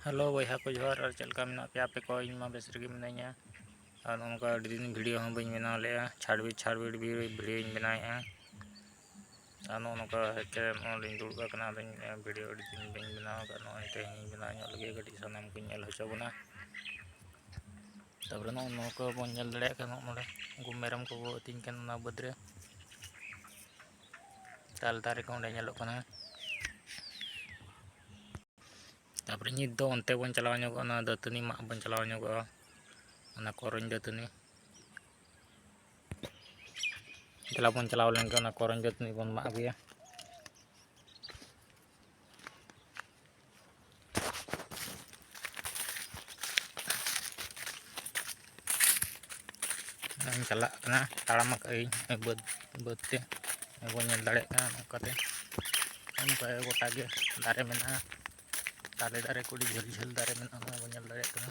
hello ᱵᱚᱭᱦᱟ ᱠᱚ ᱡᱚᱦᱟᱨ ᱟᱨ ᱪᱮᱫ ᱞᱮᱠᱟ ᱢᱮᱱᱟᱜ ᱯᱮᱭᱟ ᱟᱯᱮ ᱠᱚ ᱤᱧ ᱢᱟ ᱵᱮᱥ ᱨᱮᱜᱮ ᱢᱤᱱᱟᱹᱧᱟ ᱟᱨ ᱱᱚᱝᱠᱟ ᱟᱹᱰᱤ ᱫᱤᱱ ᱵᱷᱤᱰᱤᱭᱳ ᱦᱚᱸ ᱵᱟᱹᱧ ᱵᱮᱱᱟᱣ ᱞᱮᱫᱼᱟ ᱪᱷᱟᱲᱵᱤᱲ ᱪᱷᱟᱲᱵᱤᱲ ᱵᱷᱤᱰᱤᱭᱳᱧ ᱵᱮᱱᱟᱣᱮᱫᱼᱟ ᱟᱨ ᱱᱚᱜᱼᱚ ᱱᱚᱝᱠᱟ ᱦᱮᱡᱛᱮ ᱱᱚᱜᱼᱚᱭ ᱫᱩᱲᱩᱵ ᱟᱠᱟᱱᱟ ᱟᱫᱚᱧ ᱵᱷᱤᱰᱤᱭᱳ ᱟᱹᱰᱤ ᱫᱤᱱ ᱵᱟᱹᱧ ᱵᱮᱱᱟᱣ ᱟᱠᱟᱫ ᱱᱚᱜᱼᱚᱭ ᱛᱮᱦᱮᱧ ᱵᱮᱱᱟᱣ ᱧᱚᱜ ᱞᱟᱹᱜᱤᱫ ᱠᱟᱹᱴᱤᱡ ᱥᱟᱱᱟᱢ ᱠᱚᱧ ᱧᱮᱞ ᱦᱚᱪᱚ ᱵᱚᱱᱟ ᱛᱟᱯᱚᱨᱮ ᱱᱚᱜᱼᱚ ᱱᱚᱝᱠᱟ ᱵᱚᱱ ᱧᱮᱞ ᱫᱟᱲᱮᱭᱟᱜ ᱠᱟᱱᱟ ᱱᱚᱜᱼᱚ ᱱᱚᱸᱰᱮ ᱩᱱᱠᱩ ᱢᱮᱨᱚᱢ ᱠᱚᱠᱚ ᱟᱹᱛᱤᱧ ᱠᱟᱱᱟ ᱚᱱᱟ ᱵᱟᱹᱫᱽ ᱨᱮ ᱛᱟᱞ ᱫᱟᱨᱮ ᱠᱚ ᱚᱸᱰᱮ ᱧᱮᱞᱚᱜ ᱠᱟᱱᱟ ᱛᱟᱯᱚᱨᱮ ᱱᱤᱛ ᱫᱚ ᱚᱱᱛᱮ ᱵᱚᱱ ᱪᱟᱞᱟᱣ ᱧᱚᱜᱚᱜᱼᱟ ᱚᱱᱟ ᱫᱟᱹᱛᱟᱹᱱᱤ ᱢᱟᱜ ᱵᱚᱱ ᱪᱟᱞᱟᱣ ᱧᱚᱜᱚᱜᱼᱟ ᱚᱱᱟ ᱠᱚᱨᱚᱧ ᱫᱟᱹᱛᱟᱹᱱᱤ ᱫᱮᱞᱟ ᱵᱚᱱ ᱪᱟᱞᱟᱣ ᱞᱮᱱᱜᱮ ᱚᱱᱟ ᱠᱚᱨᱚᱧ ᱫᱟᱹᱛᱟᱹᱱᱤ ᱵᱚᱱ ᱢᱟᱜ ᱟᱹᱜᱩᱭᱟ ᱤᱧ ᱪᱟᱞᱟᱜ ᱠᱟᱱᱟ ᱛᱟᱲᱟᱢ ᱟᱠᱟᱫ ᱟᱹᱧ ᱵᱟᱹᱫᱽ ᱵᱟᱹᱫᱽ ᱛᱮ ᱵᱚᱱ ᱧᱮᱞ ᱫᱟᱲᱮᱭᱟᱜ ᱠᱟᱱᱟ ᱱᱚᱝᱠᱟᱛᱮ ᱚᱱᱠᱟ ᱜᱚᱴᱟ ᱜᱮ ᱫᱟᱨᱮ ᱢᱮᱱᱟᱜᱼᱟ ᱛᱟᱞᱮ ᱫᱟᱨᱮ ᱠᱚ ᱟᱹᱰᱤ ᱡᱷᱟᱹᱞ ᱡᱷᱟᱹᱞ ᱫᱟᱨᱮ ᱢᱮᱱᱟᱜᱼᱟ ᱚᱱᱟ ᱵᱚᱱ ᱧᱮᱞ ᱫᱟᱲᱮᱭᱟᱜ ᱠᱟᱱᱟ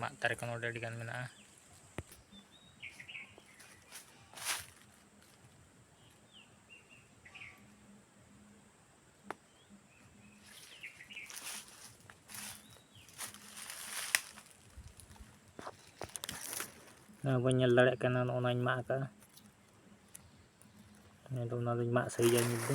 ᱢᱟᱫ ᱫᱟᱨᱮ ᱠᱚ ᱱᱚᱰᱮ ᱟᱹᱰᱤᱜᱟᱱ ᱢᱮᱱᱟᱜᱼᱟ ᱱᱚᱣᱟ ᱵᱟᱹᱧ ᱧᱮᱞ ᱫᱟᱲᱮᱭᱟᱜ ᱠᱟᱱᱟ ᱱᱚᱜᱼᱚ ᱱᱟᱧ ᱢᱟᱜ ᱟᱠᱟᱫᱼᱟ ᱟᱫᱚ ᱚᱱᱟ ᱫᱚᱧ ᱢᱟᱜ ᱥᱟᱹᱨᱤᱭᱟ ᱱᱤᱛ ᱫᱚ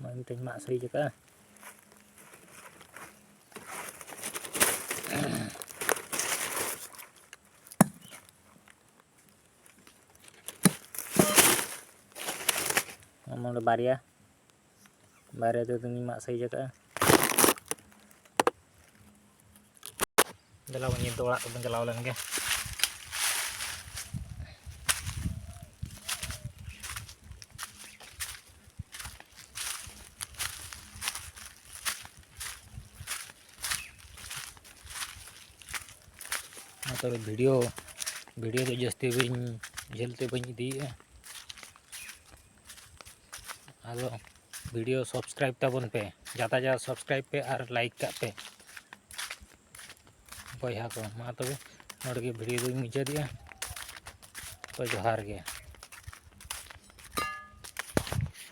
ᱱᱚᱜᱼᱚᱭ ᱢᱤᱫᱴᱮᱱ ᱢᱟᱜ ᱥᱟᱹᱨᱤᱡ ᱟᱠᱟᱜᱼᱟ ᱱᱚᱰᱮ ᱵᱟᱨᱭᱟ ᱵᱟᱨᱭᱟ ᱛᱮᱫᱚᱧ ᱢᱟᱜ ᱥᱟᱹᱨᱤᱡ ᱟᱠᱟᱜᱼᱟ ᱫᱮᱞᱟ ᱵᱚᱱ ᱧᱤᱫᱟᱹ ᱚᱲᱟᱜ ᱛᱮᱵᱚᱱ ᱪᱟᱞᱟᱣ ᱞᱮᱱ ᱜᱮ ᱛᱚᱵᱮ ᱵᱷᱤᱰᱤᱭᱳ ᱵᱷᱤᱰᱤᱭᱳ ᱫᱚ ᱡᱟᱹᱥᱛᱤ ᱵᱟᱹᱧ ᱡᱷᱟᱹᱞ ᱛᱮ ᱵᱟᱹᱧ ᱤᱫᱤᱭᱮᱫᱼᱟ ᱟᱫᱚ ᱵᱷᱤᱰᱤᱭᱳ ᱥᱟᱵᱥᱠᱨᱟᱭᱤᱵ ᱛᱟᱵᱚᱱ ᱯᱮ ᱡᱟᱫᱟ ᱡᱟᱫᱟ ᱥᱟᱵᱥᱠᱨᱟᱭᱤᱵ ᱯᱮ ᱟᱨ ᱞᱟᱭᱤᱠ ᱠᱟᱜ ᱯᱮ ᱵᱚᱭᱦᱟ ᱠᱚ ᱢᱟ ᱛᱚᱵᱮ ᱱᱚᱰᱮ ᱜᱮ ᱵᱷᱤᱰᱤᱭᱳ ᱫᱚᱧ ᱢᱩᱪᱟᱹᱫᱮᱜᱼᱟ ᱛᱚ ᱡᱚᱦᱟᱨ ᱜᱮ